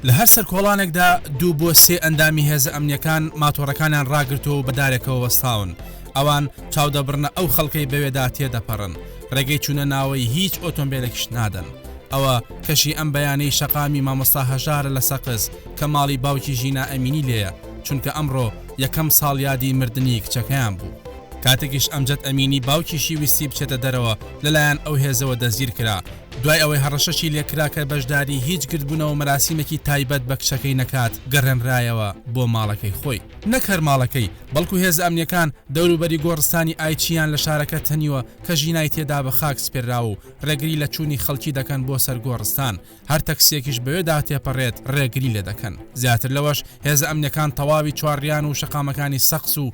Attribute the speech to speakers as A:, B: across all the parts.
A: لە هەر سەرکۆڵانێکدا دوو بۆ سێ ئەندامی هێزە ئەمنیەکان ماتۆڕەکانیان ڕاگرتووە و بەدارێکەوە وەستاون، ئەوان چاودەبڕنە ئەو خەڵکەی بەوێدا تێدەپەڕن، ڕێگەی چوونە ناوەی هیچ ئۆتۆمبێلێکیش نادەن. ئەوە کەشی ئەم بەیانەی شەقامی مامۆستا هەژارە لە سەقز کە ماڵی باوکی ژینا ئەمینی لێیە، چونکە ئەمڕۆ یەکەم ساڵیادی مردنی کچەکەیان بوو. کاتێکیش ئەمجەد ئەمینی باوکیشی ویستی بچێتە دەرەوە لەلایەن ئەو هێزەوە دەستگیرکرا، دوای ئەوەی هەڕەشەشی لێکرا کە بەشداری هیچ گردبوونەوە مەراسیمێکی تایبەت بە کچەکەی نەکات، گەڕێنرایەوە بۆ ماڵەکەی خۆی. نەک هەر ماڵەکەی، بەڵکو هێزە ئەمنییەکان دەوروبەری گۆڕستانی ئایچییان لە شارەکە تەنیوە کە ژینای تێدا بە خاک سپێرراوە و ڕێگری لە چوونی خەڵکی دەکەن بۆ سەر گۆڕستان، هەر تەکسییەکیش بەوێدا تێپەڕێت ڕێگری لێدەکەن. زیاتر لەوەش، هێزە ئەمنییەکان تەواوی چوارڕیان و شەقامەکانی سەقز و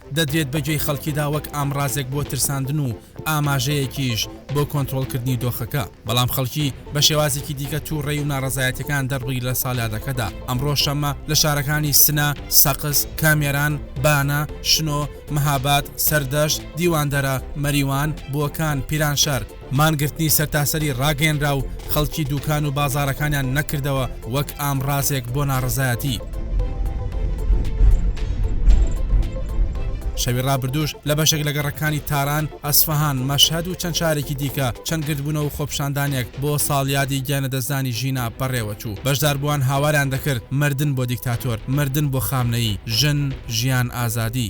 A: دەدرێت بە گوێی خەڵکیدا وەک ئامڕازێک بۆ ترساندن و ئاماژەیەکیش بۆ کۆنترۆڵکردنی دۆخەکە، بەڵام خەڵکی بە شێوازێکی دیکە تووڕەی و ناڕەزایەتیەکان دەڕبگری لە سالادەکەدا، ئەمڕۆ شەممە لە شارەکانی سنە، سەقز، کامێران، بانە، شنۆ، مهاباد، سەردەشت، دیواندەرە، مەریوان، بۆکان، پیرانشار، مانگرتنی سەرتاسەری ڕاگەیەنرا و خەڵکی دووکان و بازاڕەکانیان نەکردەوە وەک ئامڕازێک بۆ ناڕەزایەتی. شەوی ڕابردووش لە بەشێک لە گەڕەکانی تاران، ئەسفەهان، مەشهەد و چەند شارێکی دیکە چەند گردبوونەوە و خۆپیشاندانێک بۆ ساڵیادی گیانلەدەستدانی ژینا بەڕێوەچوو، بەشداربووان هاواریان دەکرد، مردن بۆ دیکتاتۆر، مردن بۆ خامنەیی، ژن، ژیان، ئازادی.